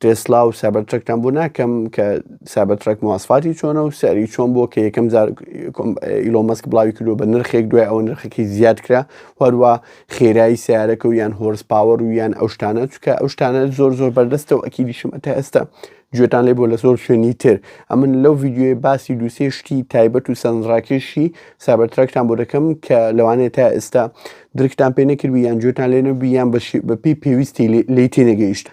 تێسلا و سابەر ترەکتان بۆ ناکەم کە سابە ترەک مواسفاتی چۆنە و سەری چۆن بۆ کە یەکەم جار ئیلۆمەسک بڵاوی کردو بە نرخێک دوای ئەوە نرخەکەی زیاد کرا هەروە خێرایی سیارەکە و یان هۆرس پاوەر و یان ئەو شتانە چکە ئەو شتانە زۆر زۆر بەردەستە و ئەکی دیشم ئەتە ئێستا گوێتان لێ بۆ لە زۆر شوێنی تر ئەمن لەو ڤیددیوی باسی دووسێ شتی تایبەت و سەنڕاکێشی سابەر ترەکتان بۆ دەکەم کە لەوانێ تا ئێستا درکتان پێ نەکردبی یان جوێتان لێ نەبی یان بە پێی پێویستی لی تێنەگەیشتە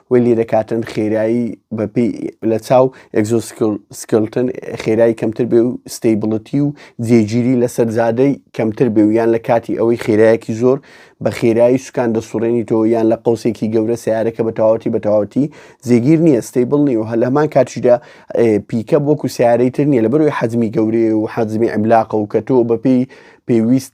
وەی لێ دەکاتن خێرایی بەپی لە چاو ئەگزۆسکلتن خێرایی کەمتر بێ و ستەیبڵەتی و جێگیری لەسەر زادەی کەمتر بێ و یان لە کاتی ئەوەی خێرایەکی زۆر بە خێرایی سوکان دەسوڕێنی تۆ یان لە قوسێکی گەورە سیارەکە بە تەواوەتی بە تەواوەتی جێگیر نییە ستەیبڵ نیە و هە لەمان کاتیشدا پیکە وەکو سیارەی تر نیە لە بەروی حەزمی گەورەیە و حەزمی ئەملاقە و کە تۆ بەپی پێویست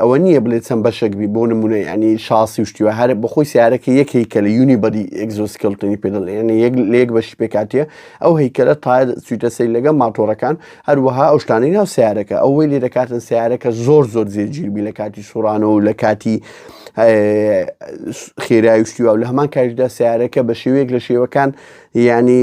ئەوە نییە بڵێ چەند بەشێک بی بۆ نمونە ینی شاسی و شتیوە هەر بەخۆی سیارەکە یەک هیکە لە یونی بەدی ئەگزۆسکلتنی پێدڵ ینی یەک لێک بەشی پێکاتە ئەو هیکەلە تا سویتە سەی لەگە ماتۆڕەکان هەروەها ئەو شتانی ناو سیارەکە ئەوەی لێ دەکاتن سیارەکە زۆر زۆر جێگیربی لە کاتی سوڕانەوە لە کاتی خێراویشتی و لە هەمان کاریدا سیارەکە بە شێوەیەک لە شێوەکان ینی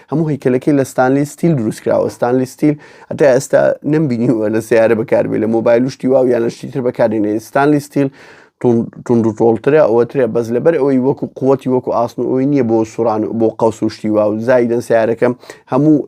هەموو هەیکەلەکەی لە ستانلی ستیل دروستکراوە ستانلی ستیل ئەتا ئێستا نمبینیوە لە سیارە بەکاربێ لە مۆبایل شتی واو یان لە شتیتر بەکارێنێ ستانلی ستیل تونند و تۆڵترە ئەوەترێ بەس لەبەر ئەوەی وەکو قوتی وەکو ئاسن و ئەوی نییە بۆ سوران بۆ قەوس و شتی واو زایدن سیارەکەم هەموو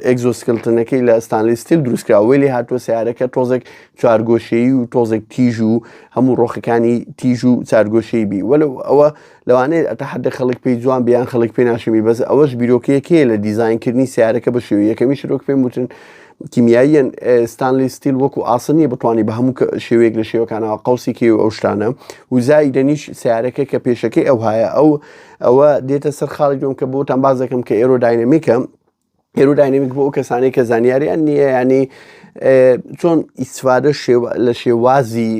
ئەگزۆسکلتنەکەی لە ستانلی ستیل دروستکرا وێلی هاتووە سیارەکە تۆزێک چوارگۆشەیی و تۆزێک تیژ و هەموو ڕۆخەکانی تیژ و چارگۆشەی بی وەلو ئەوە لەوانەیە ئەتا حەدەک خەڵک پێی جوان بێ یان خەڵک پێ ناشمی بەس ئەوەش بیرۆکەیەکەیە لە دیزاینکردنی سیارەکە بە شێوە یەکەمی شرۆک پێم وتن کیمیاییەن ستانلی ستیل وەکو ئاسن نیە بتوانانی بە هەموو شێوەیەک لە شێوەکانەوە قوسی کێ و ئەو شتانە وزای دەنیش سیارەکە کە پێشەکەی ئەو هاە ئەو ئەوە دێتە سەر خاڵی دوم کە بۆتان باز دەکەم کە ئێرۆ داینەمیکە ئێروداینمیک بۆ ئەو کەسانەی کە زانیاریان نییە ینی چۆن ئیسفادە لە شێوازی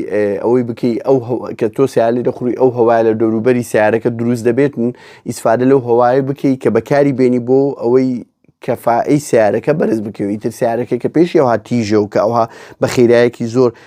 ئەوەی بکەی ئەو کە تۆ سیالی دەخوری ئەو هەوای لە دەوروبەری سیارەکە دروست دەبێتن ئیسفادە لەو هەوای بکەیت کە بەکاری بێنی بۆ ئەوەی کەفائی سیارەکە بەرز بکەوی تر سیارەکە کە پێشی ئەوها تیژە و کە ئەوها بە خێرایەکی زۆر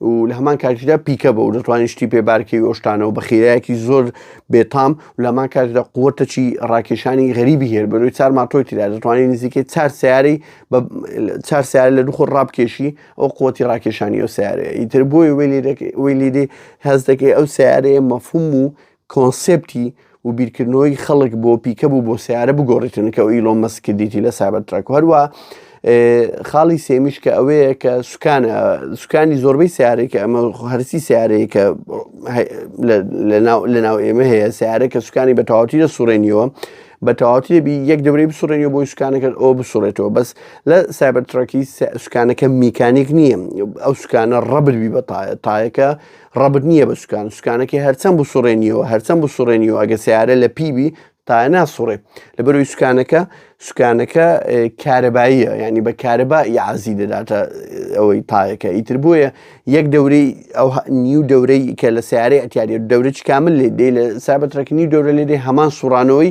و لە هەمان کاتیشدا پیکە بە و دەتوانین شتی پێ بارکەوی ئەو شتانە و بە خیرایەکی زۆر بێتام و لە هەمان کاتیشدا قوتەچی ڕاکێشانی غەریبی هێر بەرەوەی چار ماتۆی تیدا دەتوانین نزیکەی چار سیارەی بە چار سیارە لە دوخۆر ڕابکێشی ئەو قوتی ڕاکێشانی ئەو سیارەیە ئیتر بۆی وێلی دەکەی وێلی دی هەز دەکەی ئەو سیارەیە مەفهوم و کۆنسێپتی و بیرکردنەوەی خەڵک بۆ پیکەب و بۆ سیارە بگۆڕیتن کە ئیلۆن مەسک کردیتی لە سایبەر تراک و هەروە خاڵی سێمیش کە ئەوەیە کە سوکان سوکانی زۆربەی سیارەی کە ئەمە هەرسی سیارەیە کە لە ناو ئێمە هەیە سیارە کە سوکانی بە تەواتی لە سوڕێنیەوە بە تەواتی دەبی یەک دەبری بسوڕێنی بۆی سوکانەکەت ئەو بسوڕێتەوە بەس لە سایبەر تراکی سوکانەکە میکانیک نییە ئەو سوکانە ڕەبربی بە تایەکە ڕەبت نییە بە سوکان سوکانەکەی هەرچەند بسوڕێنیەوە هەرچەند بسوڕێنیەوە ئەگە سیارە لە پیبی تا ناسوڕێ لە بەروی سوکانەکە سوکانەکە کارەباییە ینی بە کارەبا یازی دەداتە ئەوەی تایەکە ئیتر بۆیە یەک دەورەی ئەو نیو دەورەی کە لە سیارەی ئەتیاری دەورە چکامل لێ دێ لە سابەتڕێک نیو دەورە لێ دێ هەمان سوڕانەوەی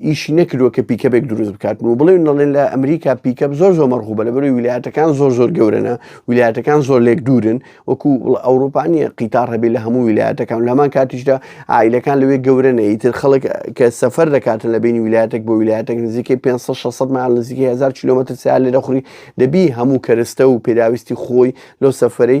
ئیشی نەکردووە کە پیکەبێک دروست بکات و بڵێ نڵێن لە ئەمریکا پیکە زۆر زۆر مەرغوبە لە بەروی ویلایەتەکان زۆر زۆر گەورەە ویلایەتەکان زۆر لێک دوورن وەکو ئەوروپانیە قیتار هەبێ لە هەموو ویلایەتەکان لەمان کاتیشدا ئایلەکان لەوێ گەورەە ئیتر خەڵک کە سەفەر دەکاتن لە بینی ویلایەتێک بۆ ویلایەتێک نزیکەی 500 مال نزیکەی 1000 کیلومتر سیال لە دەخوری دەبی هەموو کەرستە و پێداویستی خۆی لەو سەفرەی